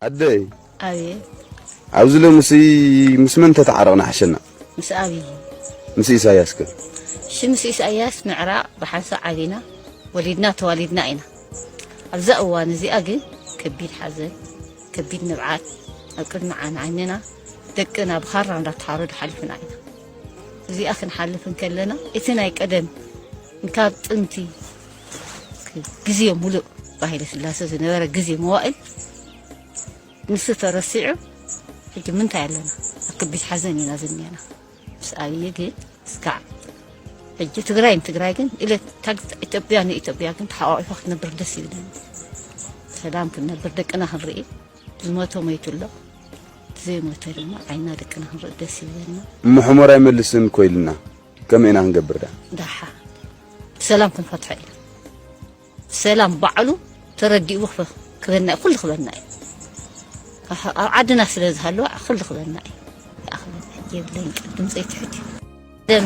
ኣደይ ኣቤት ኣብዚ ሎምሲ ምስ መን ተተዓረቕና ሓሸና? ምስ ኣብዪ። ምስ ኢሳያስ ከ? እሺ ምስ ኢሳያስ ምዕራቕ ብሓንሳእ ዓቢና ወሊድና ተዋሊድና ኢና። ኣብዛ እዋን እዚኣ ግን ከቢድ ሓዘን ከቢድ ንብዓት ኣብ ቅድሚ ዓይኒ ዓይንና ደቅና ብኻራ እንዳተሓረዱ ሓሊፍና ኢና። እዚኣ ክንሓልፍ እንከለና እቲ ናይ ቀደም እንካብ ጥንቲ ግዜ ሙሉእ ብሃይለ ስላሰ ዝነበረ ግዜ መዋእል ንሱ ተረሲዑ ሕጂ ምንታይ ኣለና ኣብ ከቢድ ሓዘን ኢና ዝኒአና ምስ ኣብዪ ግን እስካዕ ሕጂ ትግራይ ንትግራይ ግን ኢለ ኢትዮጵያ ንኢትዮጵያ ግን ተሓቋቂፋ ክትነብር ደስ ይብለኒ ሰላም ክንነብር ደቅና ክንርኢ ዝሞተ ሞይቱ ኣሎ ዘይሞተ ድማ ዓይና ደቅና ክንርኢ ደስ ይብለና ምሕሞር ኣይመልስን ኮይልና ከመይ ኢና ክንገብር ደኣ ዳሓ ብሰላም ክንፈትሖ ኢና ሰላም ባዕሉ ተረዲኡ ክፈ ክበና እዩ ኩሉ ክበና እዩ ኣህ፣ ኣብ ዓድና ስለ ዝሃለወ ኩሉ ክበና እዩ ደኣ ክበና እዩ የብለይን ቃል ድምፀይ ትሑት እዩ ደም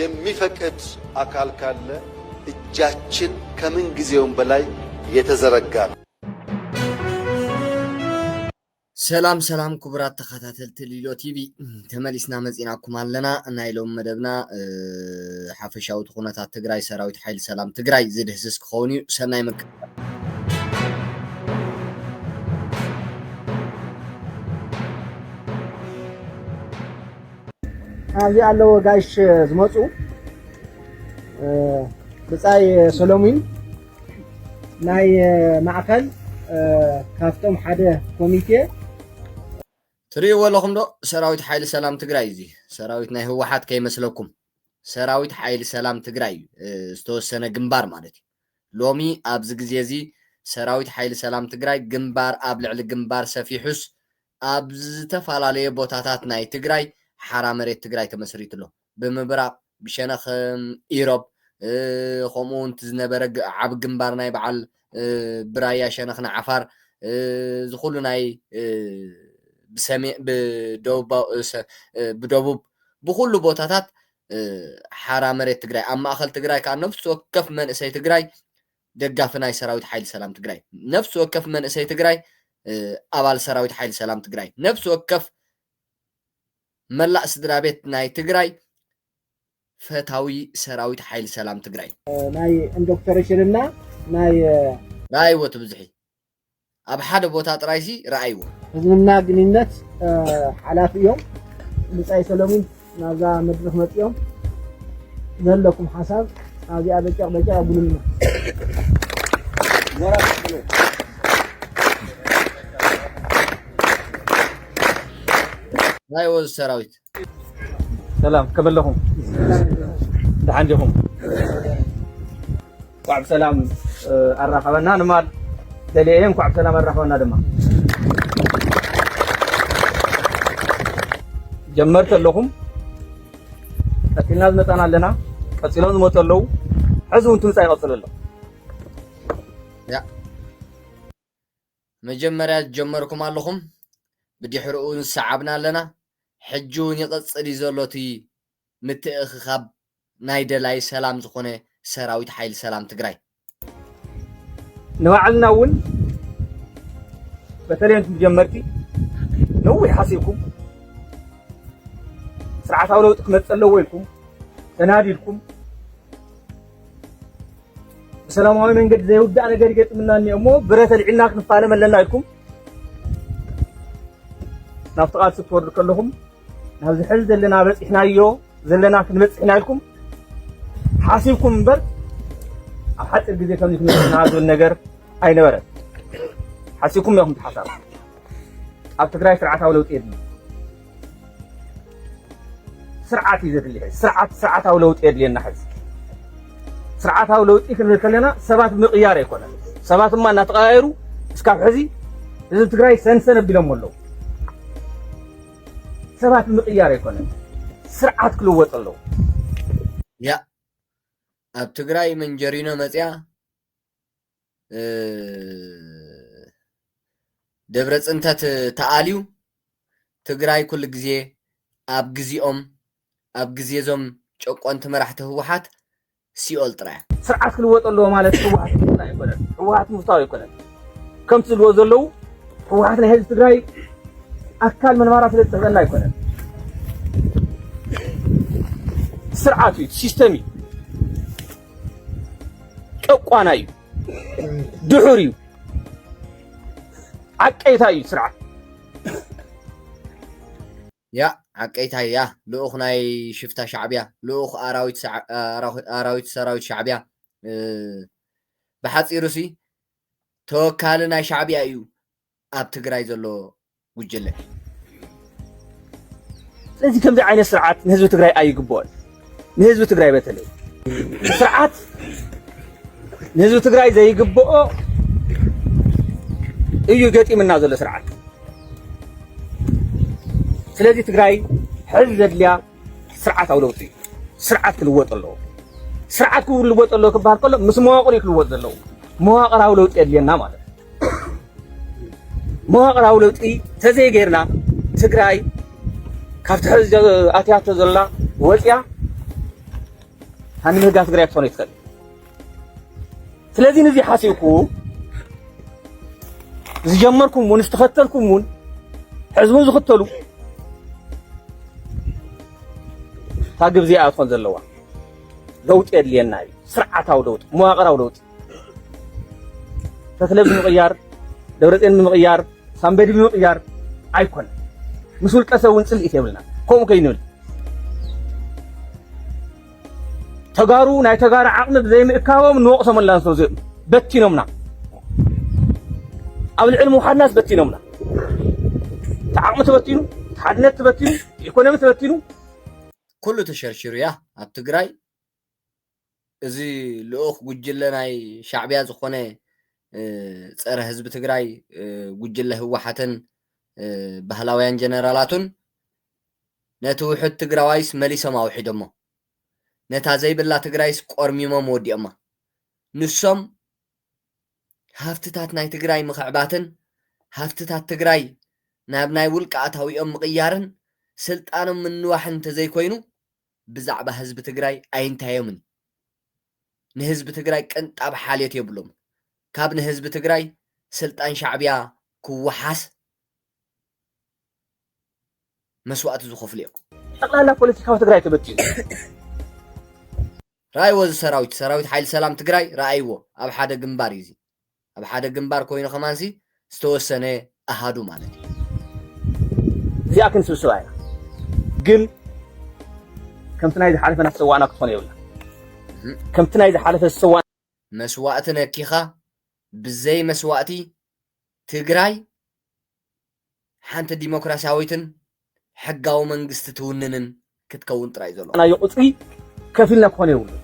የሚፈቅድ አካል ካለ እጃችን ከምን ጊዜውም በላይ የተዘረጋ ነው። ሰላም ሰላም ክቡራት ተኸታተልቲ ሊሎ ቲቪ ተመሊስና መፂናኩም ኣለና ናይ ሎሚ መደብና ሓፈሻዊ እቲ ኩነታት ትግራይ ሰራዊት ሓይሊ ሰላም ትግራይ ዝድህስስ ክኸውን እዩ ሰናይ ምክትታል ኣብዚ ኣለዎ ጋሽ ዝመፁ ብፃይ ሰሎሙን ናይ ማእኸል ካብቶም ሓደ ኮሚቴ ትርእይዎ ኣለኹም ዶ ሰራዊት ሓይሊ ሰላም ትግራይ እዚ ሰራዊት ናይ ህወሓት ከይመስለኩም ሰራዊት ሓይሊ ሰላም ትግራይ ዝተወሰነ ግንባር ማለት እዩ ሎሚ ኣብዚ ግዜ እዚ ሰራዊት ሓይሊ ሰላም ትግራይ ግንባር ኣብ ልዕሊ ግንባር ሰፊሑስ ኣብ ዝተፈላለየ ቦታታት ናይ ትግራይ ሓራ መሬት ትግራይ ተመስሪቱ ኣሎ። ብምብራቕ ብሸነኽ ኢሮብ ከምኡ እውን እቲ ዝነበረ ዓቢ ግንባር ናይ በዓል ብራያ ሸነኽ ንዓፋር እዚ ኩሉ ናይ ብሰሜን ብደቡብ ብኩሉ ቦታታት ሓራ መሬት ትግራይ ኣብ ማእኸል ትግራይ ከዓ ነፍሲ ወከፍ መንእሰይ ትግራይ ደጋፊ ናይ ሰራዊት ሓይሊ ሰላም ትግራይ፣ ነፍሲ ወከፍ መንእሰይ ትግራይ ኣባል ሰራዊት ሓይሊ ሰላም ትግራይ፣ ነፍሲ ወከፍ መላእ ስድራቤት ናይ ትግራይ ፈታዊ ሰራዊት ሓይሊ ሰላም ትግራይ ናይ ኢንዶክተሬሽንና ናይ ራይወት ብዝሒ ኣብ ሓደ ቦታ ጥራይ ሲ ረኣይዎ። ህዝብና ግንኙነት ሓላፊ እዮም ብጻይ ሰለሙን ናብዛ መድረኽ መጺኦም ዘለኩም ሓሳብ ኣብዚኣ በጨቕ በጨቕ ኣብሉልና ናይ ወዝ ሰራዊት ሰላም ከመይ ኣለኹም ደሓን ዲኹም እንኳዕ ብሰላም ኣራኸበና ንማል ደልየ እየ እንኳዕ ብሰላም ኣራኸበና ድማ ጀመርቲ ኣለኹም ቀፂልና ዝመፃና ኣለና ቀፂሎም ዝመፁ ኣለዉ ሕዚ እውን ትምፃ ይቐፅሉ ኣሎ መጀመርያ ዝጀመርኩም ኣለኹም ብዲሕሪ ኡውን ዝሰዓብና ኣለና ሕጂ ውን ይቅጽል እዩ ዘሎ እቲ ምትእኽኻብ ናይ ደላይ ሰላም ዝኾነ ሰራዊት ሓይሊ ሰላም ትግራይ። ንባዕልና ውን በተለይ ንቱም ጀመርቲ ነዊሕ ሓሲብኩም ስርዓታዊ ለውጢ ክመጽእ ኣለዎ ኢልኩም ተናዲድኩም ብሰላማዊ መንገዲ ዘይውዳእ ነገር ይገጥምና እኒኦ እሞ ብረት ኣልዒልና ክንፋለም ኣለና ኢልኩም ናብቲ ቃልሲ ክትወርዱ ከለኹም ናብዚ ሕዚ ዘለና በፂሕናዮ ዘለና ክንበፅሕ ኢና ኢልኩም ሓሲብኩም እምበር ኣብ ሓፂር ግዜ ከምዚ ክንበፅሕና ዝብል ነገር ኣይነበረን ሓሲብኩም ኢኹም ትሓሳብ ኣብ ትግራይ ስርዓታዊ ለውጢ የድሊ ስርዓት እዩ ዘድሊ ሕዚ ስርዓት ስርዓታዊ ለውጢ የድልየና ሕዚ ስርዓታዊ ለውጢ ክንብል ከለና ሰባት ምቕያር ኣይኮነን ሰባት እማ እናተቐያየሩ እስካብ ሕዚ ህዝቢ ትግራይ ሰንሰን ኣቢሎም ኣለዉ ሰባት ምቕያር ኣይኮነን ስርዓት ክልወጥ ኣለዉ ያ ኣብ ትግራይ መንጀሪኖ መፅያ ደብረ ፅንተት ተኣልዩ ትግራይ ኩሉ ግዜ ኣብ ግዚኦም ኣብ ግዜ እዞም ጨቆንቲ መራሕቲ ህወሓት ሲኦል ጥራያ ስርዓት ክልወጥ ኣለዎ ማለት ህወሓት ክፍታ ኣይኮነን ህወሓት ምፍታው ኣይኮነን ከምቲ ዝብልዎ ዘለዉ ህወሓት ናይ ህዝቢ ትግራይ ኣካል ምንባራ ስለ ዝጥዕበና ኣይኮነን ስርዓት እዩ ሲስተም እዩ ጨቋና እዩ፣ ድሑር እዩ፣ ዓቀይታ እዩ ስርዓት ያ ዓቀይታ ያ ልኡኽ ናይ ሽፍታ ሻዕብያ ልኡኽ ኣራዊት ሰራዊት ሻዕብያ ብሓፂሩ ሲ ተወካሊ ናይ ሻዕብያ እዩ ኣብ ትግራይ ዘሎ ጉጅለ። ስለዚ ከምዚ ዓይነት ስርዓት ንህዝቢ ትግራይ ኣይግብኦን። ንህዝቢ ትግራይ በተለይ ስርዓት ንህዝቢ ትግራይ ዘይግብኦ እዩ ገጢምና ዘሎ ስርዓት። ስለዚ ትግራይ ሕዚ ዘድልያ ስርዓታዊ ለውጢ እዩ። ስርዓት ክልወጥ ኣለዎ። ስርዓት ክልወጥ ኣለዎ ክበሃል ከሎ ምስ መዋቕር እዩ ክልወጥ ዘለዎ። መዋቕራዊ ለውጢ የድልየና ማለት እዩ። መዋቕራዊ ለውጢ ተዘይገይርና ትግራይ ካብቲ ሕዚ ኣትያቶ ዘላ ወፅያ ሃንምህጋ ትግራይ ክትኾነ ይትኽእል ስለዚህ ንዚ ሓሲብኩ ዝጀመርኩም እውን ዝተኸተልኩም እውን ሕዚ እውን ዝኽተሉ እታ ግብዚኣ ትኾን ዘለዋ ለውጢ የድልየና እዩ ስርዓታዊ ለውጢ መዋቕራዊ ለውጢ ተክለ ብምቕያር ደብረፅዮን ብምቕያር ሳምበዲ ብምቕያር ኣይኮነ ምስ ውልቀ ሰብ እውን ፅልኢት የብልና ከምኡ ከይንብል ተጋሩ ናይ ተጋሩ ዓቕሚ ብዘይምእካቦም ንወቕሶም ኣላን ስለ ዚኦም በቲኖምና ኣብ ልዕሊ ምውሓድናስ በቲኖምና እቲ ዓቕሚ ተበቲኑ እቲ ሓድነት ተበቲኑ እቲ ኢኮኖሚ ተበቲኑ ኩሉ ተሸርሽሩ እያ ኣብ ትግራይ እዚ ልኡኽ ጉጅለ ናይ ሻዕቢያ ዝኾነ ፀረ ህዝቢ ትግራይ ጉጅለ ህወሓትን ባህላውያን ጀነራላቱን ነቲ ውሕድ ትግራዋይስ መሊሶም ኣውሒዶሞ ነታ ዘይብላ ትግራይስ ቆርሚሞም ወዲኦማ ንሶም ሃፍትታት ናይ ትግራይ ምኽዕባትን ሃፍትታት ትግራይ ናብ ናይ ውልቀ ኣታዊኦም ምቕያርን ስልጣኖም ምንዋሕን እንተዘይኮይኑ ብዛዕባ ህዝቢ ትግራይ ኣይንታዮምን ንህዝቢ ትግራይ ቅንጣብ ሓልዮት የብሎምን ካብ ንህዝቢ ትግራይ ስልጣን ሻዕብያ ክወሓስ መስዋእቲ ዝኸፍሉ እዮም። ጠቅላላ ፖለቲካዊ ትግራይ ተበቲኑ ራእይዎ እዚ ሰራዊት ሰራዊት ሓይሊ ሰላም ትግራይ ረኣይዎ ኣብ ሓደ ግንባር እዩ እዚ ኣብ ሓደ ግንባር ኮይኑ ከማንሲ ዝተወሰነ ኣሃዱ ማለት እዩ። እዚኣ ክንስብስባ ኢና ግን ከምቲ ናይ ዝሓለፈ ናሰዋእና ክትኾን የብላ ከምቲ ናይ ዝሓለፈ ዝሰዋ መስዋእቲ ነኪኻ ብዘይ መስዋእቲ ትግራይ ሓንቲ ዲሞክራሲያዊትን ሕጋዊ መንግስቲ ትውንንን ክትከውን ጥራይ እዩ ዘሎ። ናዮ ቁጽሪ ከፊልና ክኾን የብሉን።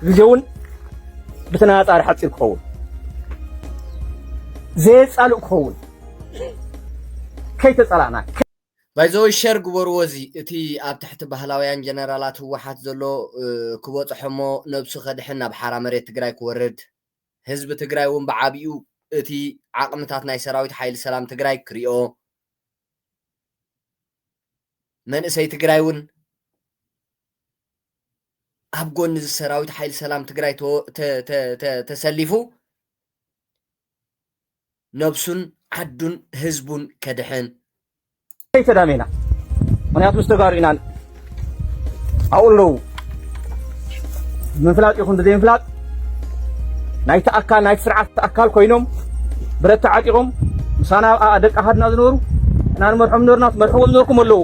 ግዜውን ብተነጻጻሪ ሓጺር ክኸውን ዘየጻልእ ክኸውን ከይተጸላእና ባይዘወይ ሸር ግበርዎ እዚ እቲ ኣብ ትሕቲ ባህላውያን ጀነራላት ህወሓት ዘሎ ክበፅሖሞ ነብሱ ከድሕን ናብ ሓራ መሬት ትግራይ ክወርድ ህዝቢ ትግራይ እውን ብዓቢኡ እቲ ዓቕምታት ናይ ሰራዊት ሓይሊ ሰላም ትግራይ ክሪኦ፣ መንእሰይ ትግራይ እውን ኣብ ጎኒ እዚ ሰራዊት ሓይሊ ሰላም ትግራይ ተሰሊፉ ነብሱን ዓዱን ህዝቡን ከድሕን። ከይ ተዳሜና ምክንያት ምስ ተጋሩ ኢና ኣብኡ ኣለዉ ምፍላጥ ይኹን ብዘይምፍላጥ ናይቲ ኣካል ናይቲ ስርዓት ኣካል ኮይኖም ብረት ተዓጢቖም ምሳና ደቂ ኣሃድና ዝነበሩ እና ንመርሖም ነበርና ትመርሕዎም ነበርኩም ኣለዉ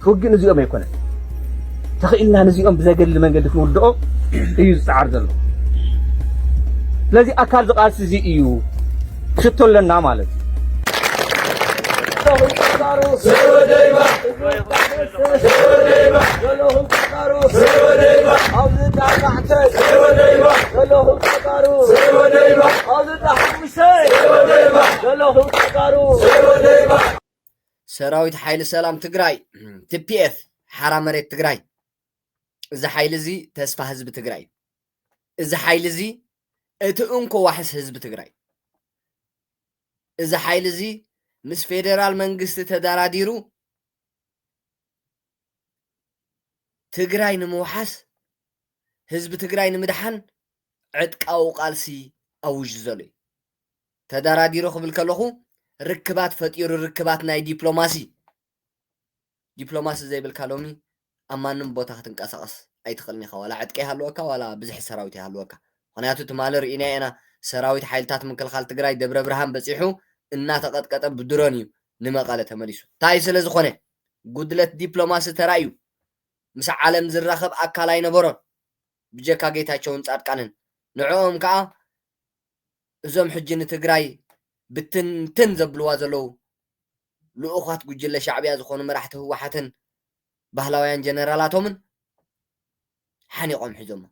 ክውግእ ንዚኦም ኣይኮነን ተኽኢልና ንዚኦም ብዘገድሊ መንገዲ ክንውድኦ እዩ ዝፀዓር ዘሎ ስለዚ ኣካል ዝቃልሲ እዚ እዩ ሽቶ ኣለና ማለት እዩ ሰራዊት ሓይሊ ሰላም ትግራይ ቲፒኤፍ ሓራ መሬት ትግራይ እዚ ሓይሊ እዚ ተስፋ ህዝቢ ትግራይ እዚ ሓይሊ እዚ እቲ እንኮ ዋሕስ ህዝቢ ትግራይ እዚ ሓይሊ እዚ ምስ ፌደራል መንግስቲ ተደራዲሩ ትግራይ ንምውሓስ ህዝቢ ትግራይ ንምድሓን ዕጥቃዊ ቃልሲ ኣውጁ ዘሎ እዩ። ተዳራዲሩ ክብል ከለኹ ርክባት ፈጢሩ ርክባት ናይ ዲፕሎማሲ ዲፕሎማሲ ዘይብልካ ሎሚ ኣብ ማንም ቦታ ክትንቀሳቐስ ኣይትኽእልን ኢኻ ዋላ ዕጥቂ ይሃልወካ ዋላ ብዝሒ ሰራዊት ይሃልወካ ምክንያቱ ትማሊ ርኢና ኢና ሰራዊት ሓይልታት ምክልኻል ትግራይ ደብረ ብርሃን በፂሑ እናተቐጥቀጠ ብድሮን እዩ ንመቐለ ተመሊሱ እንታይ ስለ ዝኾነ ጉድለት ዲፕሎማሲ ተራእዩ ምስ ዓለም ዝራኸብ ኣካል ኣይነበሮን ብጀካ ጌታቸውን ፃድቃንን ንዕኦም ከዓ እዞም ሕጂ ንትግራይ ብትንትን ዘብልዋ ዘለው ልኡኻት ጉጅለ ሻዕቢያ ዝኾኑ መራሕቲ ህወሓትን ባህላውያን ጀነራላቶምን ሓኒቖም ሒዞሞ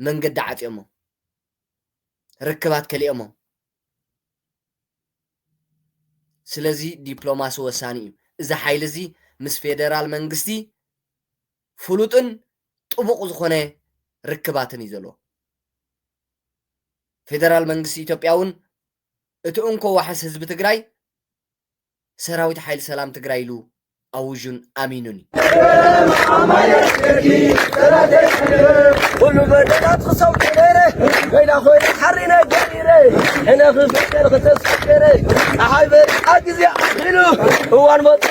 መንገዲ ዓፅዮሞ ርክባት ከሊኦሞ ስለዚ ዲፕሎማሲ ወሳኒ እዩ እዚ ሓይሊ እዚ ምስ ፌደራል መንግስቲ ፍሉጥን ጥቡቕ ዝኾነ ርክባትን እዩ ዘለዎ። ፌደራል መንግስቲ ኢትዮጵያ እውን እቲ እንኮ ዋሕስ ህዝቢ ትግራይ ሰራዊት ሓይሊ ሰላም ትግራይ ኢሉ ኣዊዡን ኣሚኑን እዩ። ክበረም ሓማየ ደርጊ ጠላተይ ሕድር ኩሉ በደላት ክሰው ገበረ ኮይና ኮይነ ሓሪነ ገቢረ ሕነ ክፍቀር ክተስገረ ፀሓይ በሪቃ ግዜ ኣኺሉ እዋን መፅኡ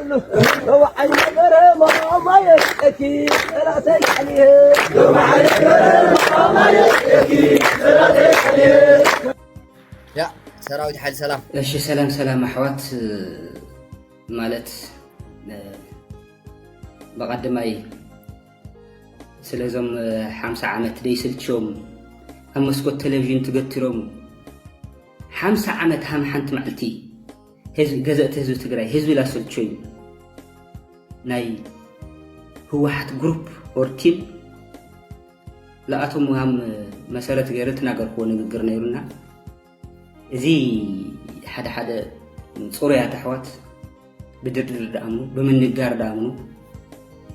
ሰራዊት ሓይሊ ሰላም እሺ ሰላም ሰላም ኣሕዋት ማለት ብቐድማይ ስለዞም ሓምሳ ዓመት ደይስልችዮም ኣብ መስኮት ቴሌቭዥን ትገትሮም ሓምሳ ዓመት ሃም ሓንቲ መዓልቲ ገዘእቲ ህዝቢ ትግራይ ህዝቢ ላሰልቾ እዩ ናይ ህወሓት ግሩፕ ኦር ቲም ለኣቶም ሃም መሰረት ገይረ ትናገርክዎ ንግግር ነይሩና እዚ ሓደ ሓደ ፅሩያት ኣሕዋት ብድርድር ዳኣምኑ ብምንጋር ዳኣምኑ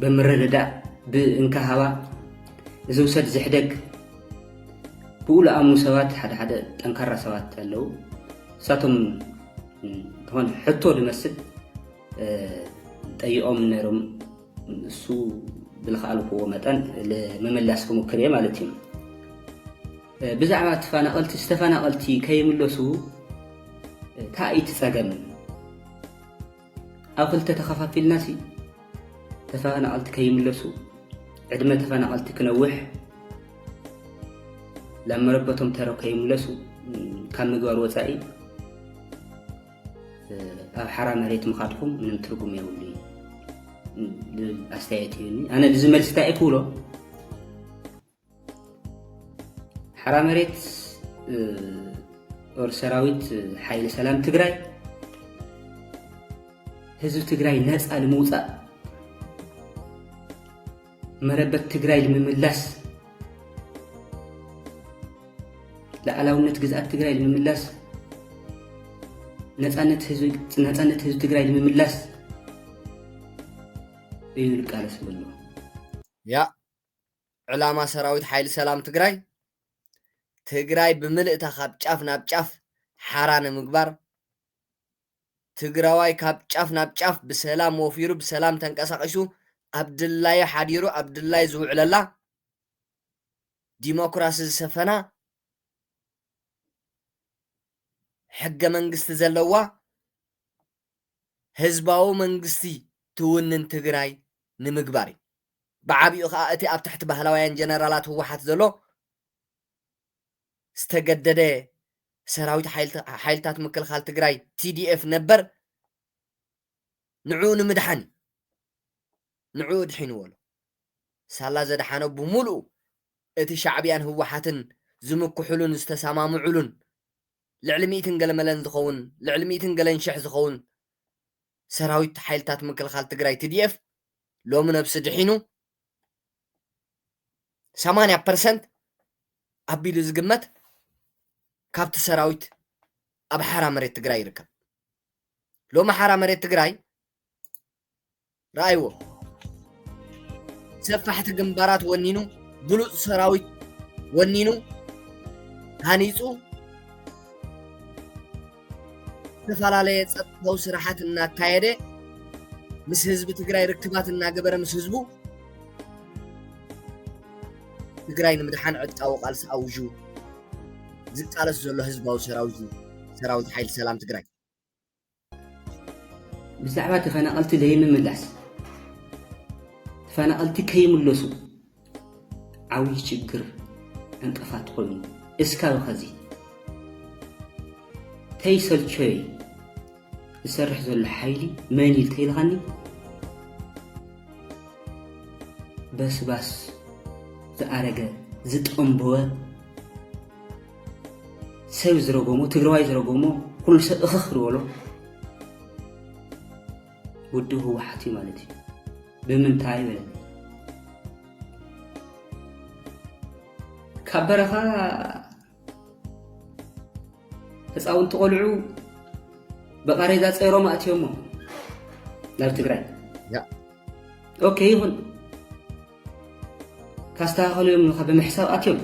ብምርድዳእ ብእንካሃባ እዚ ውሰድ ዝሕደግ ብኡ ለኣምኑ ሰባት ሓደ ሓደ ጠንካራ ሰባት ኣለዉ እሳቶም ዝኾነ ሕቶ ዝመስል ጠይቆም ነይሮም እሱ ብልክኣልክዎ መጠን ለመመላስ ክሙክር እየ ማለት እዩ ብዛዕባ ተፈናቐልቲ ዝተፈናቐልቲ ከይምለሱ ታእይቲ ፀገም ኣብ ክልተ ተኸፋፊልና ሲ ተፈናቐልቲ ከይምለሱ ዕድመ ተፈናቐልቲ ክነውሕ ናብ መረበቶም ተረው ከይምለሱ ካብ ምግባር ወፃኢ ኣብ ሓራ መሬት ምኻድኩም ምንም ትርጉም የብሉ ኣስተያየት እዩኒ ኣነ እዚ መልሲ እንታይ ክብሎ ሓራ መሬት ጦር ሰራዊት ሓይሊ ሰላም ትግራይ ህዝቢ ትግራይ ነፃ ንምውፃእ መረበት ትግራይ ንምምላስ ላዕላውነት ግዝኣት ትግራይ ንምምላስ ነፃነት ህዝቢ ትግራይ ንምምላስ እዩ ንቃለስ ብሎ ያ ዕላማ ሰራዊት ሓይሊ ሰላም ትግራይ፣ ትግራይ ብምልእታ ካብ ጫፍ ናብ ጫፍ ሓራ ንምግባር፣ ትግራዋይ ካብ ጫፍ ናብ ጫፍ ብሰላም ወፊሩ ብሰላም ተንቀሳቒሱ ኣብ ድላዩ ሓዲሩ ኣብ ድላዩ ዝውዕለላ ዲሞክራሲ ዝሰፈና ሕገ መንግስቲ ዘለዋ ህዝባዊ መንግስቲ ትውንን ትግራይ ንምግባር እዩ። ብዓቢኡ ከኣ እቲ ኣብ ትሕቲ ባህላውያን ጀነራላት ህወሓት ዘሎ ዝተገደደ ሰራዊት ሓይልታት ምክልኻል ትግራይ፣ TDF፣ ነበር ንዕኡ ንምድሓን እዩ። ንዕኡ ኣድሒንዎ ኣሎ። ሳላ ዘድሓኖ ብምሉኡ እቲ ሻዕብያን ህወሓትን ዝምክሑሉን ዝተሰማምዑሉን ልዕሊ ሚእትን ገለመለን ዝኸውን ልዕሊ ሚእትን ገለን ሽሕ ዝኸውን ሰራዊት ሓይልታት ምክልኻል ትግራይ ትዲኤፍ ሎሚ ነብሲ ድሒኑ 80 ፐርሰንት ኣቢሉ ዝግመት ካብቲ ሰራዊት ኣብ ሓራ መሬት ትግራይ ይርከብ ሎሚ ሓራ መሬት ትግራይ ረኣይዎ ሰፋሕቲ ግንባራት ወኒኑ ብሉፅ ሰራዊት ወኒኑ ሃኒፁ ዝተፈላለየ ፀጥታዊ ስራሓት እናካየደ ምስ ህዝቢ ትግራይ ርክባት እናገበረ ምስ ህዝቡ ትግራይ ንምድሓን ዕጥቃዊ ቃልሲ ኣውጁ ዝቃለስ ዘሎ ህዝባዊ ሰራዊት እዩ ሰራዊት ሓይሊ ሰላም ትግራይ ብዛዕባ ተፈናቐልቲ ዘይምምላስ ተፈናቐልቲ ከይምለሱ ዓውዪ ችግር ዕንቅፋት ኮይኑ እስካብ ኸዚ ተይሰልቸይ ዝሰርሕ ዘሎ ሓይሊ መን እዩ ተይልኻኒ በስባስ ዝኣረገ ዝጠንበወ ሰብ ዝረገሞ ትግራዋይ ዝረገሞ ኩሉ ሰብ እኽኽ ዝበሎ ውድብ ህወሓት እዩ ማለት እዩ ብምንታይ በል ካብ በረኻ ህፃውንቲ ቆልዑ ብቃሬዛ ፀይሮም ኣእትዮሞ ናብ ትግራይ ኦኬ ይኹን ካስተኻኸሉ እዮም ካ ብምሕሳብ ኣትዮም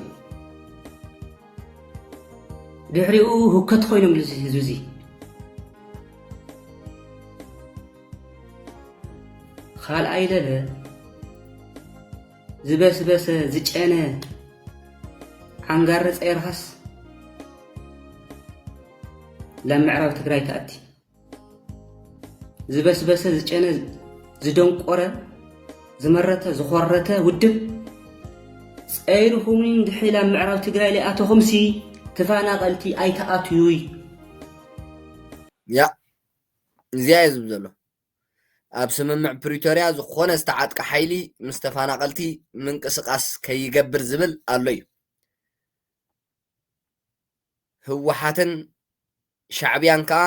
ድሕሪኡ ሁከት ኮይኖም ህዝቢ እዙይ ኻልኣይ ለለ ዝበስበሰ ዝጨነ ዓንጋሪ ፀይርኻስ ላብ ምዕራብ ትግራይ ትኣቲ ዝበስበሰ ዝጨነ ዝደንቆረ ዝመረተ ዝኾረተ ውድብ ፀይርኹምን ድሕሪ ላብ ምዕራብ ትግራይ ሊኣተኹምሲ ተፋናቐልቲ ኣይትኣትዩይ ያ እዚኣ እየ ዝብል ዘሎ ኣብ ስምምዕ ፕሪቶርያ ዝኾነ ዝተዓጥቀ ሓይሊ ምስ ተፋናቀልቲ ምንቅስቃስ ከይገብር ዝብል ኣሎ እዩ ህወሓትን ሻዕብያን ከዓ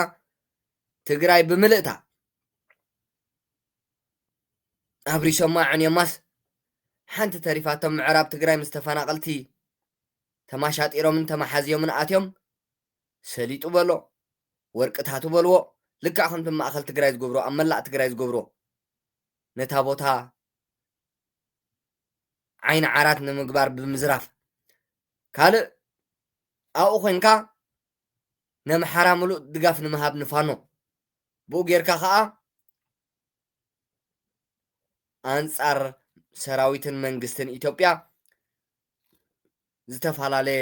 ትግራይ ብምልእታ ኣብሪሶማ ዕንዮማስ ሓንቲ ተሪፋቶም ምዕራብ ትግራይ ምስ ተፈናቀልቲ ተማሻጢሮምን ተማሓዝዮምን ኣትዮም ሰሊጡ በሎ ወርቅታቱ በልዎ ልክዕ ከምቲ ኣብ ማእኸል ትግራይ ዝገብሮ ኣብ መላእ ትግራይ ዝገብሮ ነታ ቦታ ዓይኒ ዓራት ንምግባር ብምዝራፍ ካልእ ኣብኡ ኮንካ ነምሓራ ምሉእ ድጋፍ ንምሃብ ንፋኖ ብኡ ጌርካ ከዓ ኣንጻር ሰራዊትን መንግስትን ኢትዮጵያ ዝተፈላለየ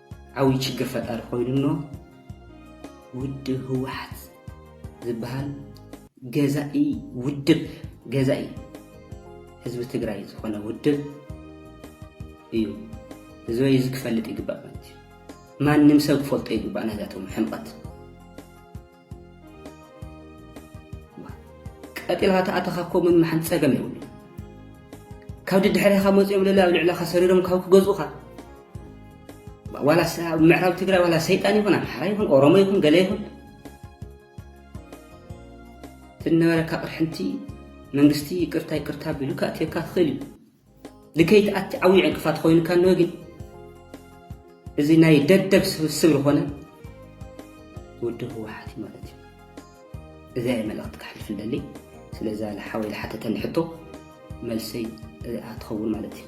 ዓብይ ችግር ፈጣሪ ኮይኑ ኣሎ ውድብ ህወሓት ዝበሃል ገዛኢ ውድብ ገዛኢ ህዝቢ ትግራይ ዝኾነ ውድብ እዩ ህዝበይ እዚ ክፈልጥ ይግባእ ማለት እዩ ማንም ሰብ ክፈልጦ ይግባእ ናይዛቶም ሕምቐት ቀጢልካ ተኣተኻ እኮ ምምሓን ጸገም የብሉ ካብ ድድሕሪኻ መፅኦም ለለ ኣብ ልዕለኻ ሰሪሮም ካብ ክገዝኡኻ ዋላ ኣብ ምዕራብ ትግራይ ዋላ ሰይጣን ይኹን ኣምሓራ ይኹን ኦሮሞ ይኹን ገለ ይኹን ትነበረካ ቅርሕንቲ መንግስቲ ይቅርታ ይቅርታ ቢሉካ ኣትየካ ትኽእል እዩ ንከይትኣቲ ዓብዩ ዕንቅፋት ኾይኑካ እንሆ ግን እዚ ናይ ደደብ ስብስብ ዝኾነ ውድብ ህወሓት እዩ ማለት እዩ እዚኣ እየ መልእኽቲ ክሕልፍ ደሊ ስለዛ ሓወይ ዝሓተተኒ ሕቶ መልሰይ እዚኣ ትኸውን ማለት እዩ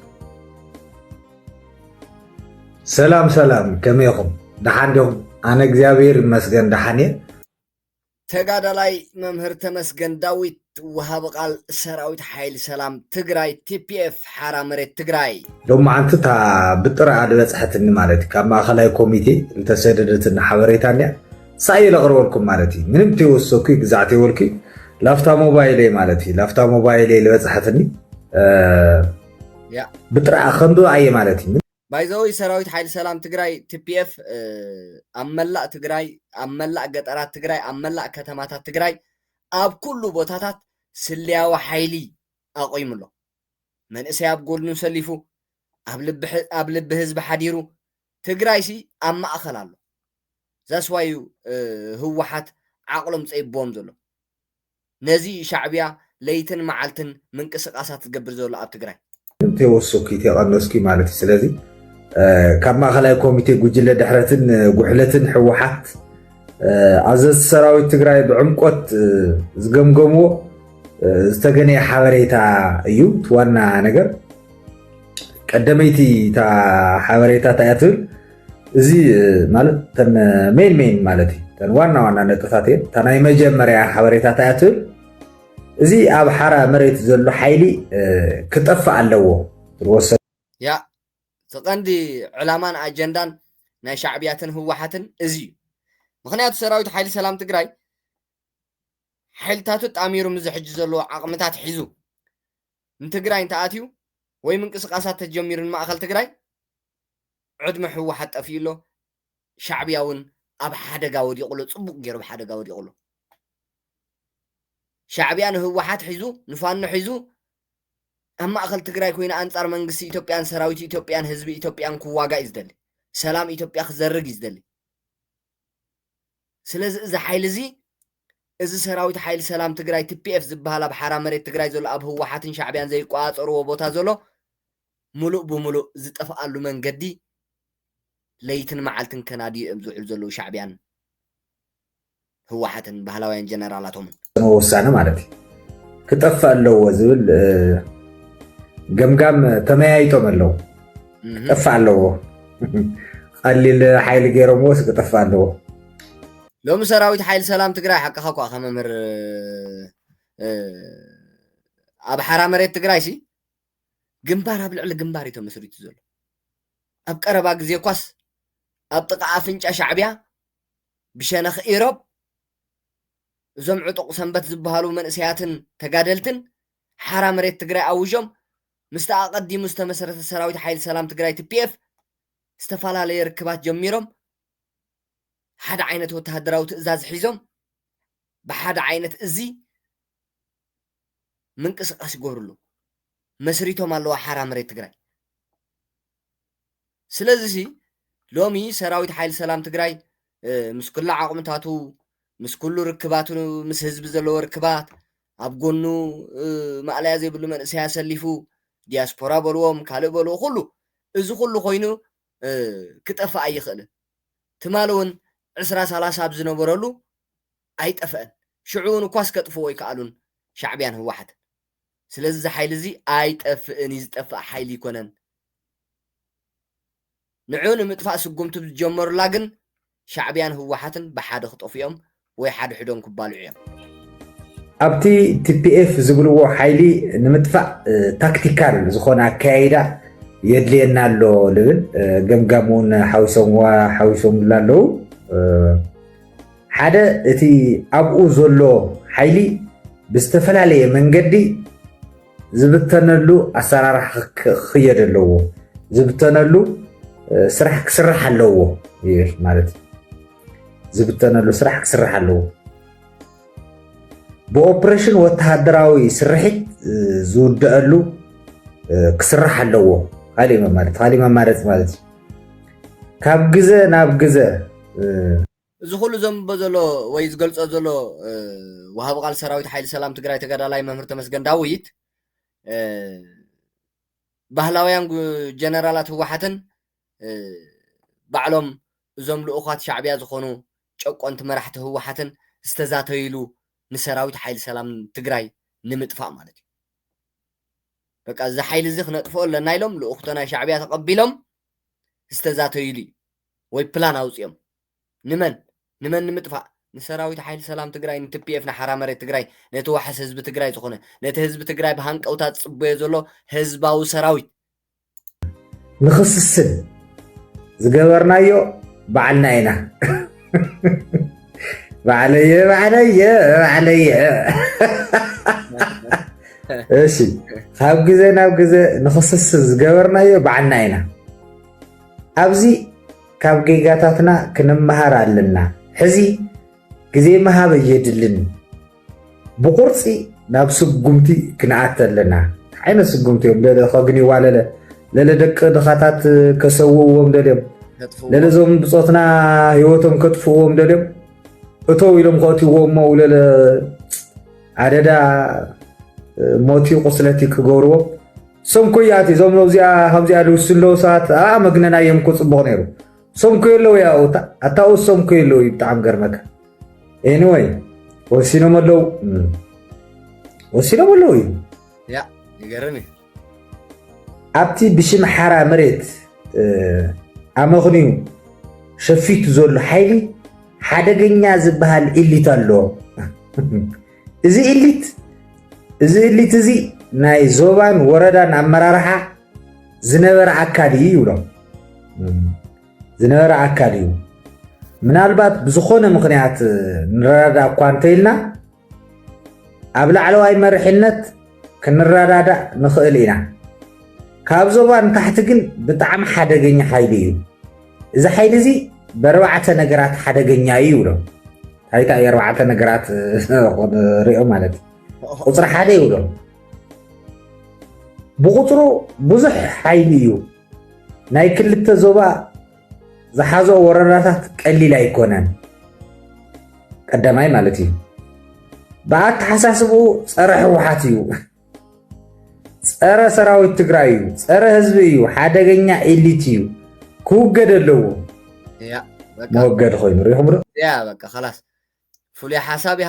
ሰላም ሰላም ከመይ ኢኹም ደሓን ዲኹም ኣነ እግዚኣብሔር ይመስገን ደሓን እየ ተጋዳላይ መምህር ተመስገን ዳዊት ወሃቢ ቃል ሰራዊት ሓይሊ ሰላም ትግራይ tpf ሓራ መሬት ትግራይ። ሎማዓንቲ እታ ብጥረኣ ዝበፅሐትኒ ማለት እዩ ካብ ማእኸላይ ኮሚቴ ዝተሰደደትኒ ሓበሬታ እንድያ ሳይ ለቕርበልኩም ማለት እዩ ምንም ተይወሰኩ ግዛዕ ተይወልኩ ላፍታ ሞባይለይ ማለት እዩ ላፍታ ሞባይለይ ዝበፅሐትኒ ብጥረኣ ከንብባ እየ ማለት እዩ ባይዘወይ ሰራዊት ሓይሊ ሰላም ትግራይ tpf ኣብ መላእ ትግራይ ኣብ መላእ ገጠራት ትግራይ ኣብ መላእ ከተማታት ትግራይ ኣብ ኩሉ ቦታታት ስልያዊ ሓይሊ ኣቑይሙ ኣሎ መንእሰይ ኣብ ጎድኑ ሰሊፉ ኣብ ልቢ ኣብ ልቢ ህዝቢ ሓዲሩ ትግራይሲ ኣብ ማእኸል ኣሎ ዛስዋዩ ህወሓት ዓቕሎም ፀይብዎም ዘሎ ነዚ እዩ ሻዕቢያ ለይትን መዓልትን ምንቅስቃሳት ዝገብር ዘሎ ኣብ ትግራይ። እንተይወሰኩ እይተቀነስኩ ማለት እዩ። ስለዚ ካብ ማእኸላይ ኮሚቴ ጉጅለ ድሕረትን ጉሕለትን ህወሓት ኣዘዝቲ ሰራዊት ትግራይ ብዕምቆት ዝገምገምዎ ዝተገነየ ሓበሬታ እዩ። እቲ ዋና ነገር ቀደመይቲ እታ ሓበሬታ እንታይ እያ ትብል? እዚ ማለት ተን ሜን ሜን ማለት እዩ ተን ዋና ዋና ነጥብታት እየን እታ ናይ መጀመርያ ሓበሬታት እያ ትብል እዚ ኣብ ሓራ መሬት ዘሎ ሓይሊ ክጠፍእ ኣለዎ ዝወሰ ያ እቲ ቀንዲ ዕላማን ኣጀንዳን ናይ ሻዕብያትን ህወሓትን እዚ እዩ ምክንያቱ ሰራዊት ሓይሊ ሰላም ትግራይ ሓይልታቱ ጣሚሩ ምዚ ሕጂ ዘለዎ ዓቕምታት ሒዙ ንትግራይ እንተኣትዩ ወይ ምንቅስቃሳት ተጀሚሩ ንማእኸል ትግራይ ዕድመ ህወሓት ጠፊኡ ኣሎ ሻዕብያ እውን ኣብ ሓደጋ ወዲቑ ኣሎ ፅቡቕ ገይሩ ኣብ ሓደጋ ወዲቑ ኣሎ ሻዕብያ ንህወሓት ሒዙ ንፋኖ ሒዙ ኣብ ማእኸል ትግራይ ኮይኑ ኣንፃር መንግስቲ ኢትዮጵያን ሰራዊት ኢትዮጵያን ህዝቢ ኢትዮጵያን ክዋጋእ እዩ ዝደሊ ሰላም ኢትዮጵያ ክዘርግ እዩ ዝደሊ ስለዚ እዚ ሓይሊ እዚ እዚ ሰራዊት ሓይሊ ሰላም ትግራይ ቲፒኤፍ ዝበሃል ኣብ ሓራ መሬት ትግራይ ዘሎ ኣብ ህወሓትን ሻዕብያን ዘይቆፃፀርዎ ቦታ ዘሎ ምሉእ ብምሉእ ዝጠፍኣሉ መንገዲ ለይትን መዓልትን ከናድዩ እዮም ዝውዕሉ ዘለዉ ሻዕብያን ህወሓትን ባህላውያን ጀነራላቶምን። ዝፈፀመ ውሳነ ማለት እዩ ክጠፍእ ኣለዎ ዝብል ገምጋም ተመያይጦም ኣለዉ ክጠፍእ ኣለዎ ቀሊል ሓይሊ ገይሮምዎ ስ ክጠፍእ ኣለዎ ሎሚ ሰራዊት ሓይሊ ሰላም ትግራይ ሓቅኻ እኳ ከመምህር ኣብ ሓራ መሬት ትግራይ ሲ ግንባር ኣብ ልዕሊ ግንባር እዩ ተመስሪቱ ዘሎ። ኣብ ቀረባ ግዜ እኳስ ኣብ ጥቓ ኣፍንጫ ሻዕብያ ብሸነኽ ኢሮብ እዞም ዕጡቕ ሰንበት ዝበሃሉ መንእሰያትን ተጋደልትን ሓራ መሬት ትግራይ ኣውዦም ምስቲ ኣቐዲሙ ዝተመሰረተ ሰራዊት ሓይሊ ሰላም ትግራይ ትፒኤፍ ዝተፈላለየ ርክባት ጀሚሮም ሓደ ዓይነት ወተሃደራዊ ትእዛዝ ሒዞም ብሓደ ዓይነት እዚ ምንቅስቃስ ይገብርሉ መስሪቶም ኣለዋ ሓራ መሬት ትግራይ ስለዚ ሲ ሎሚ ሰራዊት ሓይሊ ሰላም ትግራይ ምስ ኩሉ ዓቕምታቱ ምስ ኩሉ ርክባቱ ምስ ህዝቢ ዘለዎ ርክባት ኣብ ጎኑ ማእለያ ዘይብሉ መንእሰይ ኣሰሊፉ ዲያስፖራ በልዎም ካልእ በልዎ ኩሉ እዚ ኩሉ ኮይኑ ክጠፍእ ኣይኽእልን ትማሊ እውን ዕስራ ሰላሳ ኣብ ዝነበረሉ ኣይጠፈእን ሽዑውን እኳስ ከጥፍእዎ ኣይከኣሉን ሻዕብያን ህወሓትን ስለዚ እዚ ሓይሊ እዚ ኣይጠፍእን እዩ ዝጠፍእ ሓይሊ ኣይኮነን ንዑ ንምጥፋእ ስጉምቲ ዝጀመሩላ ግን ሻዕብያን ህወሓትን ብሓደ ክጠፍኡ እዮም ወይ ሓድሕዶም ክባልዑ እዮም። ኣብቲ ቲፒኤፍ ዝብልዎ ሓይሊ ንምጥፋእ ታክቲካል ዝኾነ ኣከያይዳ የድልየና ኣሎ ልብል ገምጋም እውን ሓዊሶምዋ ሓዊሶምላ ኣለዉ። ሓደ እቲ ኣብኡ ዘሎ ሓይሊ ብዝተፈላለየ መንገዲ ዝብተነሉ ኣሰራርሓ ክኽየድ ኣለዎ፣ ዝብተነሉ ስራሕ ክስራሕ ኣለዎ ይብል ማለት እዩ። ዝብተነሉ ስራሕ ክስራሕ ኣለዎ። ብኦፕሬሽን ወተሃደራዊ ስርሒት ዝውደአሉ ክስራሕ ኣለዎ ካሊእ መማረፂ ካሊእ መማረፂ ማለት እዩ ካብ ግዘ ናብ ግዘ እዚ ኩሉ ዘንብቦ ዘሎ ወይ ዝገልጾ ዘሎ ወሃቢ ቃል ሰራዊት ሓይሊ ሰላም ትግራይ ተጋዳላይ መምህር ተመስገን ዳዊት ባህላውያን ጀነራላት ህወሓትን ባዕሎም እዞም ልኡኻት ሻዕብያ ዝኾኑ ጨቆንቲ መራሕቲ ህወሓትን ዝተዛተይሉ ንሰራዊት ሓይሊ ሰላም ትግራይ ንምጥፋእ ማለት እዩ በቃ እዚ ሓይሊ እዚ ክነጥፍኦ ኣለና ኢሎም ልኡኽቶ ናይ ሻዕብያ ተቐቢሎም ዝተዛተይሉ እዩ ወይ ፕላን ኣውፅኦም ንመን? ንመን ንምጥፋእ? ንሰራዊት ሓይሊ ሰላም ትግራይ፣ ንትፒኤፍ፣ ንሓራ መሬት ትግራይ፣ ነቲ ዋሕስ ህዝቢ ትግራይ ዝኾነ፣ ነቲ ህዝቢ ትግራይ ብሃንቀውታ ዝፅበዮ ዘሎ ህዝባዊ ሰራዊት። ንኽስስን ዝገበርናዮ ባዕልና ኢና። ባዕለየ ባዕለየ ባዕለየ እሺ ካብ ግዜ ናብ ግዜ ንኽስስን ዝገበርናዮ ባዕልና ኢና ኣብዚ ካብ ጌጋታትና ክንመሃር ኣለና ሕዚ ግዜ ምሃብ ኣየድልን ብቁርፂ ናብ ስጉምቲ ክንኣቲ ኣለና እንታይ ዓይነት ስጉምቲ እዮም ለለ ከግንይዋ ለለ ለለ ደቂ ድኻታት ከሰውእዎም ደልዮም ለለ እዞም ብፆትና ሂወቶም ከጥፍእዎም ደልዮም እተው ኢሎም ከእትይዎ እሞ ለለ ኣደዳ ሞቲ ቁስለቲ ክገብርዎ ሰንኮያት እዞም ዚኣ ከምዚኣ ድውስ ኣለዉ ሰባት ኣ መግነናዮም ኮ ፅቡቕ ነይሩ ሰንኮዮ ኣለዉ ያ ኣታኡ ሰንኮዮ ኣለዉ እዩ ብጣዕሚ ገርመካ ኤኒወይ ወሲኖም ኣለዉ ወሲኖም ኣለዉ እዩ ይገርም እዩ ኣብቲ ብሽም ሓራ መሬት ኣመኽንዩ ሸፊቱ ዘሎ ሓይሊ ሓደገኛ ዝበሃል ኢሊት ኣሎ። እዚ ኢሊት እዚ ኢሊት እዚ ናይ ዞባን ወረዳን ኣመራርሓ ዝነበረ ኣካል እዩ ይብሎም። ዝነበረ ኣካል እዩ ምናልባት ብዝኾነ ምኽንያት ንረዳዳ እኳ እንተኢልና ኣብ ላዕለዋይ መርሒነት ክንረዳዳእ ንኽእል ኢና። ካብ ዞባ ንታሕቲ ግን ብጣዕሚ ሓደገኛ ሓይሊ እዩ። እዚ ሓይሊ እዚ በርባዕተ ነገራት ሓደገኛ እዩ ይብሎ። ታይታ እዩ ኣርባዕተ ነገራት ሪኦ ማለት ቁፅሪ ሓደ ይብሎ። ብቁፅሩ ብዙሕ ሓይሊ እዩ። ናይ ክልተ ዞባ ዝሓዞ ወረዳታት ቀሊል ኣይኮነን። ቀዳማይ ማለት እዩ ብኣተሓሳስብኡ ፀረ ህወሓት እዩ፣ ፀረ ሰራዊት ትግራይ እዩ፣ ፀረ ህዝቢ እዩ፣ ሓደገኛ ኤሊት እዩ፣ ክውገድ ኣለዎ መወገዲ ኮይኑ ሪኹም ዶ በቃ ላስ ፍሉይ ሓሳብ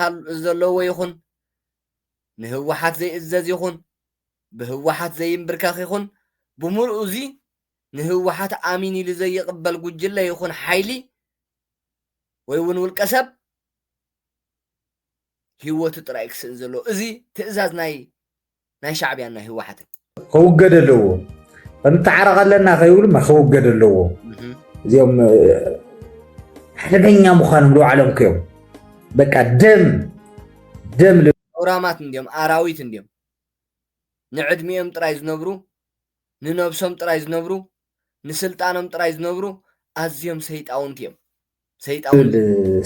ዘለዎ ይኹን ንህወሓት ዘይእዘዝ ይኹን ብህወሓት ዘይምብርከኽ ይኹን ብምልኡ እዚ ንህወሓት ኣሚን ኢሉ ዘይቕበል ጉጅለ ይኹን ሓይሊ ወይ እውን ውልቀ ሰብ ህይወቱ ጥራይ ክስእን ዘለዎ እዚ ትእዛዝ ናይ ናይ ሻዕብያን ናይ ህወሓትን ክውገድ ኣለዎ እንተዓረቕ ኣለና ከይብሉ ክውገድ ኣለዎ እዚኦም ሓደገኛ ምዃኖም ዝባዕሎም ክዮም በቃ ደም ደም ኣውራማት እንዲዮም ኣራዊት እንዲዮም ንዕድሚኦም ጥራይ ዝነብሩ ንነብሶም ጥራይ ዝነብሩ ንስልጣኖም ጥራይ ዝነብሩ ኣዝዮም ሰይጣውንቲ እዮም ሰይጣውንቲ ዝብል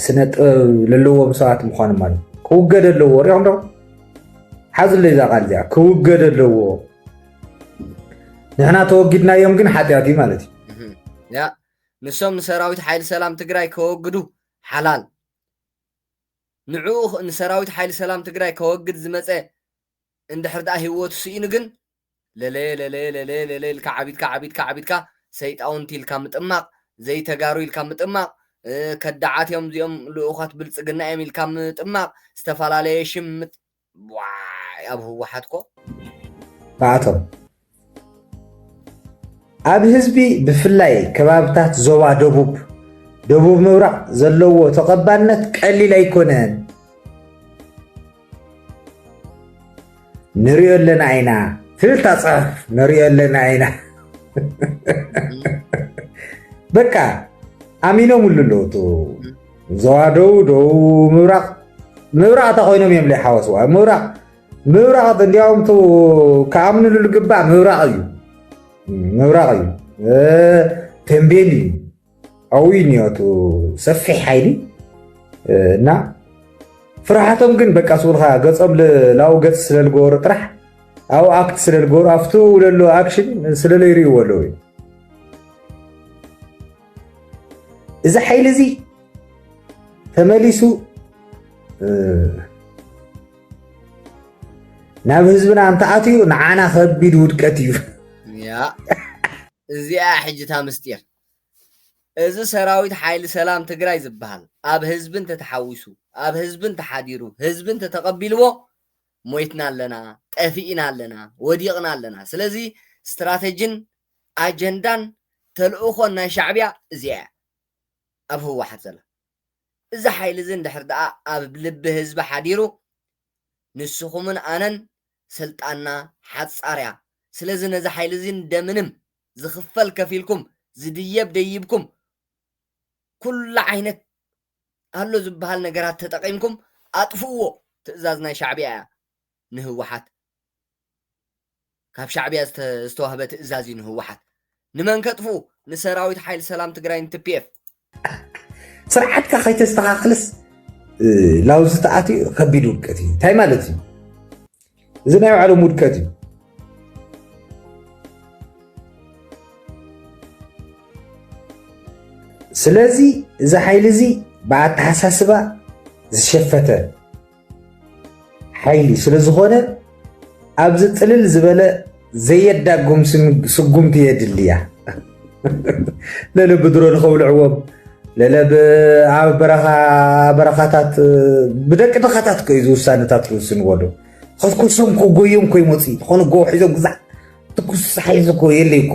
ስነ ጥበብ ለለዎም ሰባት ምዃኖም ማለት እዩ። ክውገድ ኣለዎ ሪኦም ዶ ሓዝለይ እዛ ቃል እዚኣ ክውገድ ኣለዎ ንሕና ተወጊድናዮም ግን ሓጢኣት እዩ ማለት እዩ እህም። ያ ንሶም ንሰራዊት ሓይሊ ሰላም ትግራይ ከወግዱ ሓላል ንዕኡ ኽ- ንሰራዊት ሓይሊ ሰላም ትግራይ ከወግድ ዝመፀ እንድሕር ድኣ ሂወቱ ስኢኑ ግን ለለየ ለለየ ለለየ ለለየ ኢልካ ዓቢድካ ዓቢድካ ዓቢድካ ሰይጣውንቲ ኢልካ ምጥማቕ ዘይተጋሩ ኢልካ ምጥማቕ ከዳዓት እዮም እዚኦም ልኡኻት ብልጽግና እዮም ኢልካ ምጥማቕ ዝተፈላለየ ሽም ምጥ ዋይ ኣብ ህወሓት ኮ ባዕቶም ኣብ ህዝቢ ብፍላይ ከባብታት ዞባ ደቡብ ደቡብ ምብራቕ ዘለዎ ተቐባልነት ቀሊል ኣይኮነን ንሪኦ ኣለና ኢና ትብልታ ፅሑፍ ንሪኦ ኣለና ኢና በቃ ኣሚኖምሉ ኣለዉ እቲ ዞባ ደቡብ ደቡብ ምብራቕ ምብራቕ እታ ኮይኖም እዮም ዘይሓወስዋ ምብራቕ ምብራቕ እንዲያውም ቱ ክኣምንሉ ልግባእ ምብራቕ እዩ ምብራቕ እዩ ተንቤን እዩ ኣብኡ እዩ ኒኦቱ ሰፊሕ ሓይሊ እና ፍርሓቶም ግን በቃ ስብልካ ገፆም ላው ገፅ ስለልገበሩ ጥራሕ ኣብኡ ኣክት ስለልገበሩ ኣብቲ ለሎ ኣክሽን ስለለይርእዎ ኣለዉ እዩ እዚ ሓይሊ እዚ ተመሊሱ ናብ ህዝብና እንተኣትዩ ንዓና ከቢድ ውድቀት እዩ እዚኣ ሕጅታ ምስጢር እዚ ሰራዊት ሓይሊ ሰላም ትግራይ ዝበሃል ኣብ ህዝቢ እንተተሓዊሱ ኣብ ህዝቢ እንተሓዲሩ ህዝቢ እንተተቐቢልዎ ሞይትና ኣለና ጠፊእና ኣለና ወዲቕና ኣለና ስለዚ ስትራተጂን ኣጀንዳን ተልእኾን ናይ ሻዕቢያ እዚኣ እያ ኣብ ህወሓት ዘላ እዚ ሓይሊ እዚ እንድሕር ደኣ ኣብ ልቢ ህዝቢ ሓዲሩ ንስኹምን ኣነን ስልጣንና ሓጻር እያ ስለዚ ነዚ ሓይሊ እዚ እንደምንም ዝኽፈል ከፊልኩም ዝድየብ ደይብኩም ኩሉ ዓይነት ኣሎ ዝብሃል ነገራት ተጠቒምኩም ኣጥፍእዎ ትእዛዝ ናይ ሻዕብያ እያ ንህወሓት ካብ ሻዕቢያ ዝተዋህበ ትእዛዝ እዩ ንህወሓት ንመን ከጥፍኡ ንሰራዊት ሓይሊ ሰላም ትግራይን ትፒኤፍ ስርዓትካ ከይተስተኻኽልስ ላውዚ ተኣትዩ ከቢድ ውድቀት እዩ እንታይ ማለት እዩ እዚ ናይ ባዕሎም ውድቀት እዩ ስለዚ እዚ ሓይሊ እዚ ብኣተሓሳስባ ዝሸፈተ ሓይሊ ስለዝኾነ ኣብዚ ፅልል ዝበለ ዘየዳጉም ስጉምቲ የድልያ ለለ ብድሮ ንኸብልዕዎም ለለ ኣብ በረኻታት ብደቂ ድኻታት ከዩ ዝውሳነታት ዝውስንዎሉ ከስኩሶም ክጎዮም ኮይመፅ ዝኾነ ጎ ሒዞም ግዛዕ ትኩስ ሓይዚ እኮ የለይ እኮ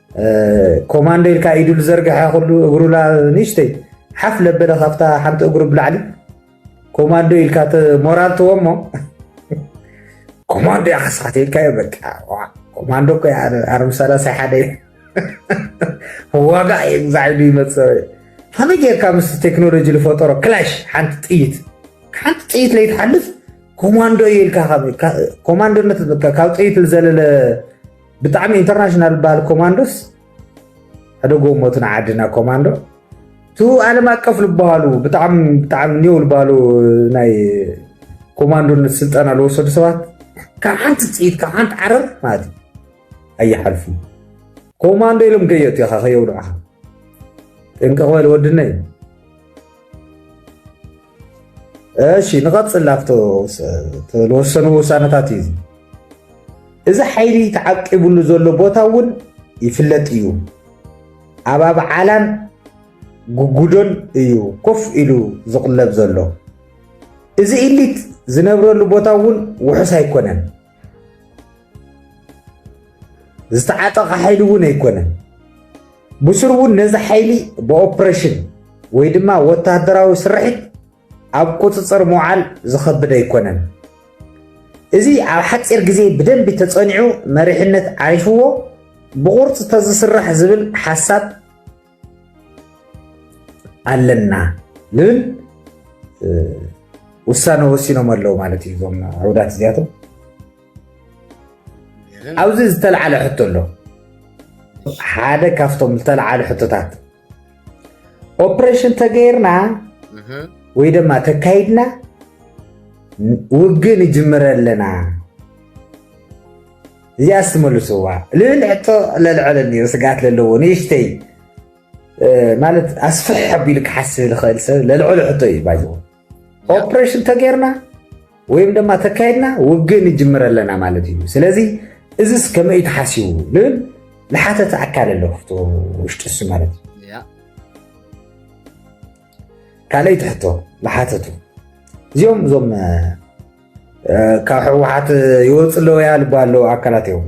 ኮማንዶ ኢልካ ኢዱ ዝዘርግሐ ኩሉ እግሩ ንእሽተይ ሓፍ ለበለ ካብታ ሓንቲ እግሩ ብላዕሊ ኮማንዶ ኢልካ ሞራል ትዎ እሞ ኮማንዶ ያኸስኻት ኢልካዮ በቃ ኮማንዶ እኮ ኣርም ሰላሳይ ሓደ ዋጋ እየ ግዛዕ ኢሉ ይመፅ ከመይ ጌርካ ምስ ቴክኖሎጂ ዝፈጠሮ ክላሽ ሓንቲ ጥይት ሓንቲ ጥይት ለይትሓልፍ ኮማንዶ ኢልካ ኮማንዶነት ካብ ጥይት ዝዘለለ ብጣዕሚ ኢንተርናሽናል ዝበሃል ኮማንዶስ ሕደጎ ሞትን ዓድና ኮማንዶ እቲ ዓለም ኣቀፍ ዝበሃሉ ብጣዕሚ ብጣዕሚ ኒው ዝበሃሉ ናይ ኮማንዶነት ስልጠና ዝወሰዱ ሰባት ካብ ሓንቲ ፅኢት ካብ ሓንቲ ዓረር ማለት እዩ ኣይሓልፉ ኮማንዶ ኢሎም ከየእቱ ኢኻ ከየውድዑኻ ጥንቅቕ በል ወድነይ እሺ ንቐፅል ኣብቶ ዝወሰኑ ውሳነታት እዩ እዚ ሓይሊ ተዓቂቡሉ ዘሎ ቦታ እውን ይፍለጥ እዩ ኣብ ኣብዓላን ጉጉዶን እዩ ኮፍ ኢሉ ዝቕለብ ዘሎ እዚ ኢሊት ዝነብረሉ ቦታ እውን ውሑስ ኣይኮነን ዝተዓጠቐ ሓይሊ እውን ኣይኮነን። ብስሩ እውን ነዚ ሓይሊ ብኦፕሬሽን ወይ ድማ ወታደራዊ ስርሒት ኣብ ቁፅፅር ምውዓል ዝኸብድ ኣይኮነን። እዚ ኣብ ሓፂር ግዜ ብደንቢ ተፀኒዑ መሪሕነት ዓሪፍዎ ብቑርፅ ተዝስራሕ ዝብል ሓሳብ ኣለና ዝብል ውሳነ ወሲኖም ኣለዉ ማለት እዩ እዞም ዕውዳት እዚኣቶም ኣብዚ ዝተለዓለ ሕቶ ኣሎ ሓደ ካብቶም ዝተለዓለ ሕቶታት ኦፕሬሽን ተገይርና ወይ ድማ ተካይድና ውግእ ንጅምረ ኣለና እዚኣስ ትመልስዋ ልብል ሕቶ ለልዐለኒ ስግኣት ለለዎ ንእሽተይ ማለት ኣስፍሕ ኣቢሉ ክሓስብ ዝኽእል ሰብ ለልዕሉ ሕቶ እዩ ባይ ኦፕሬሽን ተገይርና ወይም ድማ ተካይድና ውግእ ንጅምር ኣለና ማለት እዩ ስለዚ እዚስ ከመይ እዩ ተሓሲቡ ልብል ዝሓተተ ኣካል ኣሎ ክፍቶ ውሽጢ እሱ ማለት እዩ ካልኣይቲ ሕቶ ዝሓተቱ እዚኦም እዞም ካብ ሕወሓት ይወፅ ኣለዉ ያ ልባ ኣለዉ ኣካላት እዮም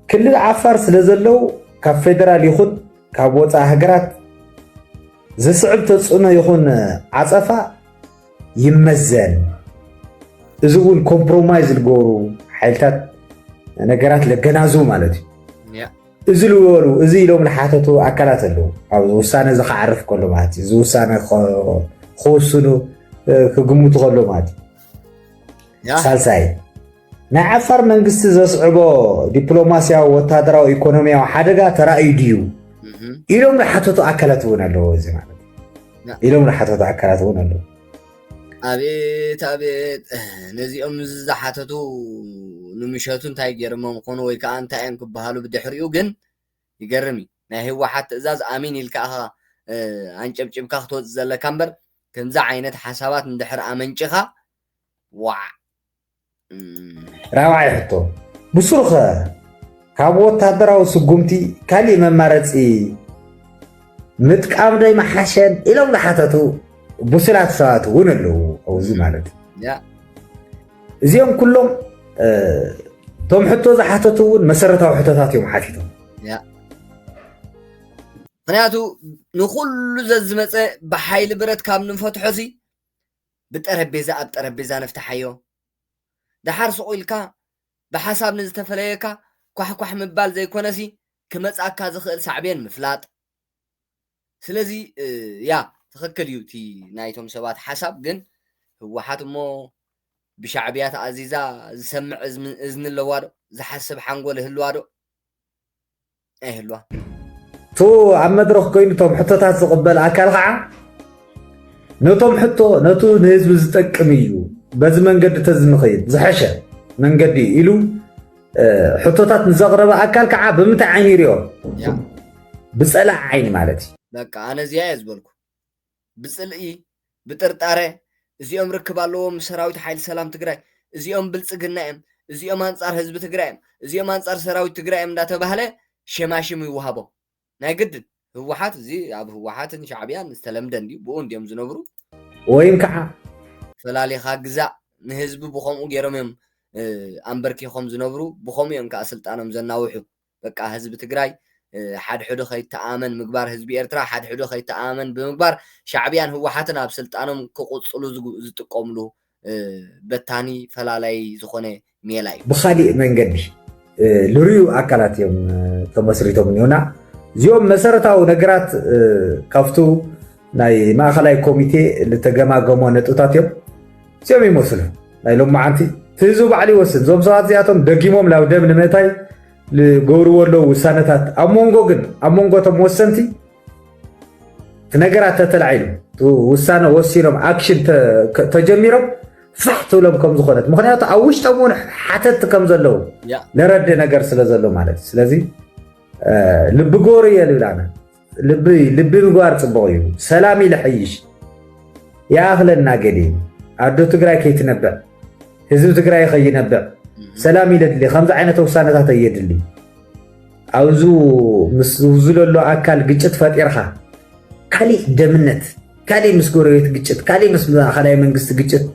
ክልል ዓፋር ስለ ዘለዉ ካብ ፌደራል ይኹን ካብ ወፃኢ ሃገራት ዝስዕብ ተፅዕኖ ይኹን ዓፀፋ ይመዘን እዚ እውን ኮምፕሮማይዝ ዝገበሩ ሓይልታት ነገራት ለገናዝቡ ማለት እዩ እዚ ዝበሉ እዚ ኢሎም ዝሓተቱ ኣካላት ኣለዉ ኣብዚ ውሳነ እዚ ክዓርፍ ከሎ ማለት እዩ እዚ ውሳነ ክወስኑ ክግምቱ ከሎ ማለት እዩ ሳልሳይ ናይ ዓፋር መንግስቲ ዘስዕቦ ዲፕሎማስያዊ ወታደራዊ ኢኮኖሚያዊ ሓደጋ ተራእዩ ድዩ ኢሎም ዝሓተቱ ኣካላት እውን ኣለዎ እዚ ማለት ኢሎም ዝሓተቱ ኣካላት እውን ኣለዎ ኣቤት ኣቤት ነዚኦም እዚ ዝሓተቱ ንምሸቱ እንታይ ገይሮሞም ክኾኑ ወይ ከዓ እንታይ እዮም ክበሃሉ ብድሕሪኡ ግን ይገርም እዩ ናይ ህወሓት ትእዛዝ ኣሚን ኢልካ ኢኻ ኣንጨብጭብካ ክትወፅእ ዘለካ እምበር ከምዚ ዓይነት ሓሳባት እንድሕር ኣመንጭኻ ዋዕ ራብዓይ ሕቶ ብሱሩኸ ካብ ወታደራዊ ስጉምቲ ካሊእ መማረፂ ምጥቃም ዶ ይመሓሸን ኢሎም ዝሓተቱ ብሱላት ሰባት እውን ኣለዉ ኣብዚ ማለት እዚኦም ኩሎም እቶም ሕቶ ዝሓተቱ እውን መሰረታዊ ሕቶታት እዮም ሓቲቶም ምክንያቱ ንኩሉ ዘዝመፀ ብሓይሊ ብረት ካብ ንፈትሖ ሲ ብጠረቤዛ ኣብ ጠረቤዛ ንፍታሓዮ ደሓር ሱቕ ኢልካ ብሓሳብ ንዝተፈለየካ ኳሕ ኳሕ ምባል ዘይኮነሲ ክመጽኣካ ዝኽእል ሳዕቤን ምፍላጥ ስለዚ ያ ትኽክል እዩ እቲ ናይቶም ሰባት ሓሳብ ግን ህወሓት እሞ ብሻዕብያ ተኣዚዛ ዝሰምዕ እዝኒ ኣለዋ ዶ ዝሓስብ ሓንጎል ይህልዋ ዶ ናይ ህልዋ እቱ ኣብ መድረኽ ኮይኑ እቶም ሕቶታት ዝቕበል ኣካል ከዓ ነቶም ሕቶ ነቱ ንህዝቢ ዝጠቅም እዩ በዚ መንገዲ ተዝንኸይድ ዝሐሸ መንገዲ እዩ ኢሉ ሕቶታት ንዘቕረበ ኣካል ከዓ ብምንታይ ዓይኒ ይሪኦ ብፀላእ ዓይኒ ማለት እዩ በቃ ኣነ እዚኣ እየ ዝበልኩ ብፅልኢ፣ ብጥርጣረ፣ እዚኦም ርክብ ኣለዎም ምስ ሰራዊት ሓይሊ ሰላም ትግራይ፣ እዚኦም ብልፅግና እዮም፣ እዚኦም ኣንፃር ህዝቢ ትግራይ እዮም፣ እዚኦም ኣንፃር ሰራዊት ትግራይ እዮም እንዳተባህለ ሸማሽም ይወሃቦም። ናይ ግድን ህወሓት እዚ ኣብ ህወሓትን ሻዕብያን ዝተለምደ እንድዩ፣ ብኡ እንድዮም ዝነብሩ። ወይን ከዓ ፈላሊኻ ግዛእ፣ ንህዝቢ ብኸምኡ ገይሮም እዮም ኣምበርኪኾም ዝነብሩ፣ ብኸምኡ እዮም ከዓ ስልጣኖም ዘናውሑ። በቃ ህዝቢ ትግራይ ሓድሕዱ ከይተኣመን ምግባር ህዝቢ ኤርትራ ሓድሕዱ ከይተኣመን ብምግባር ሻዕብያን ህወሓትን ኣብ ስልጣኖም ክቕፅሉ ዝጥቀምሉ በታኒ ፈላላይ ዝኾነ ሜላ እዩ። ብኻሊእ መንገዲ ልርዩ ኣካላት እዮም ተመስሪቶም እኒሆና እዚኦም መሰረታዊ ነገራት ካብቱ ናይ ማእኸላይ ኮሚቴ ዝተገማገሞ ነጥብታት እዮም እዚኦም ይመስሉ ናይ ሎም መዓንቲ እቲ ህዝቢ ባዕሉ ይወስን እዞም ሰባት እዚኣቶም ደጊሞም ናብ ደም ንምእታይ ዝገብርዎ ኣለዉ ውሳነታት ኣብ መንጎ ግን ኣብ መንጎቶም ወሰንቲ እቲ ነገራት ተተላዒሉ ውሳነ ወሲኖም ኣክሽን ተጀሚሮም ፋሕ ትብሎም ከም ዝኾነት ምክንያቱ ኣብ ውሽጦም እውን ሓተቲ ከም ዘለዉ ነረዲ ነገር ስለ ዘሎ ማለት እዩ ስለዚ ልቢ ጎሩ እየ ልብላና ልቢ ልቢ ምግባር ጽቡቕ እዩ። ሰላም ኢለ ሕይሽ ይኣኽለና ገዲ ኣዶ ትግራይ ከይትነብዕ ህዝቢ ትግራይ ከይነብዕ ሰላም ኢለድሊ ከምዚ ዓይነት ውሳነታት እየድሊ ኣብዚ ምስ ዝውዝለሉ ኣካል ግጭት ፈጢርካ ካሊእ ደምነት ካሊእ ምስ ጎረቤት ግጭት ካሊእ ምስ ማእኸላይ መንግስቲ ግጭት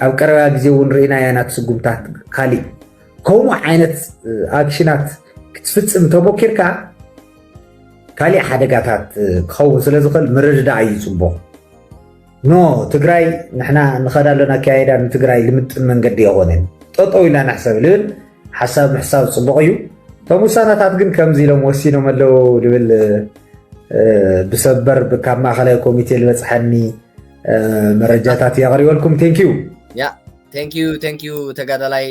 ኣብ ቀረባ ግዜ እውን ርኢና ያናት ስጉምታት ካሊእ ከምኡ ዓይነት ኣክሽናት ክትፍፅም ተሞኪርካ ካሊእ ሓደጋታት ክኸውን ስለ ዝኽእል ምርድዳእ እዩ ፅቡቕ ኖ ትግራይ ንሕና ንኸዳ ኣለና ኣካየዳ ንትግራይ ልምጥን መንገዲ የኾነን ጠጠው ኢልና ንሕሰብ ልብል ሓሳብ ምሕሳብ ፅቡቕ እዩ እቶም ውሳነታት ግን ከምዚ ኢሎም ወሲኖም ኣለዉ ልብል ብሰበር ካብ ማእኸላይ ኮሚቴ ዝበፅሐኒ መረጃታት የቕሪበልኩም ቴንኪዩ ቴንኪዩ ቴንኪዩ ተጋዳላይ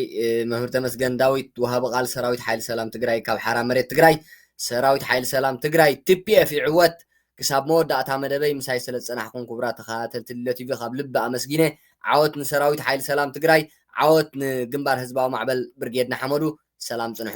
መምህር ተመስገን ዳዊት ወሃቢ ቃል ሰራዊት ሓይሊ ሰላም ትግራይ ካብ ሓራ መሬት ትግራይ ሰራዊት ሓይሊ ሰላም ትግራይ፣ tpf፣ ይዕወት! ክሳብ መወዳእታ መደበይ ምሳይ ስለ ዝጸናሕኩም ኩቡራት ተኸታተልቲ ልሎ ቲቪ ካብ ልቢ ኣመስጊነ። ዓወት ንሰራዊት ሓይሊ ሰላም ትግራይ! ዓወት ንግንባር ህዝባዊ ማዕበል ብርጌድ ንሓመዱ! ሰላም ጽንሑ!